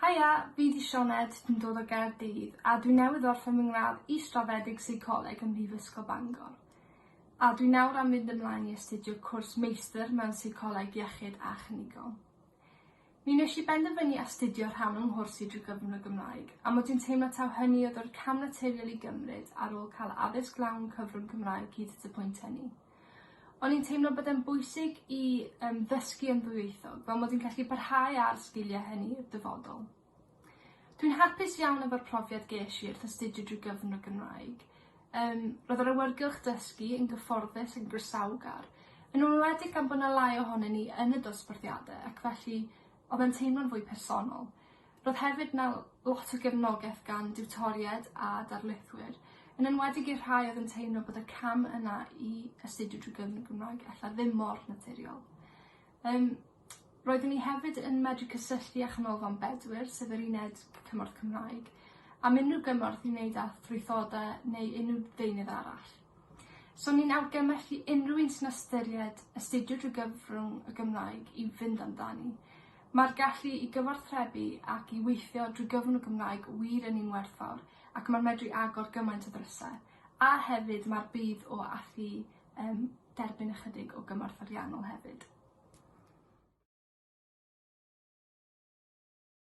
Haia, fi 'di Sioned, dwi'n dod o Gaerdydd a dwi newydd orffen fy ngradd Israddedig Seicoleg ym Mhrifysgol Bangor. A dwi nawr am mynd ymlaen i astudio cwrs Meistr mewn Seicoleg Iechyd a Chlinigol. Mi wnes i benderfynu astudio rhan o'n nghwrs i drwy gyfrwng y Gymraeg, a mod i'n teimlo taw hynny oedd yr cam naturiol i gymryd ar ôl cael addysg lawn cyfrwng Cymraeg hyd at y pwynt hynny. O'n i'n teimlo bod e'n bwysig i yym ddysgu yn ddwyieithog fel mod i'n gallu parhau â'r sgilie hynny i'r dyfodol. Dwi'n hapus iawn efo'r profiad gesh i wrth astudio drwy gyfrwng y Gymraeg. Yym roedd yr awyrgylch dysgu yn gyfforddus yn groesawgar, yn enwedig gan bo' 'na lai ohonyn ni yn y dosbarthiade ac felly odd e'n teimlo'n fwy personol. Roedd hefyd 'na lot o gefnogaeth gan diwtoried a darlithwyr, yn enwedig i'r rhai oedd yn teimlo bod y cam yna i astudio drwy gyfrwng y Gymraeg ella ddim mor naturiol. Yym roeddwn i hefyd yn medru cysylltu â Chanolfan Bedwyr, sef yr uned cymorth Cymraeg, am unrhyw gymorth i wneud â thrwythodau neu unrhyw ddeunydd arall. So ni'n argymhellu unrhyw un sy'n ystyried astudio drwy gyfrwng y Gymraeg i fynd amdani. Mae'r gallu i gyfathrebu ac i weithio drwy gyfrwng y Gymraeg wir yn un werthfawr ac mae'n medru agor gymaint o ddrysau. A hefyd mae'r budd o allu um, derbyn ychydig o gymorth ariannol hefyd.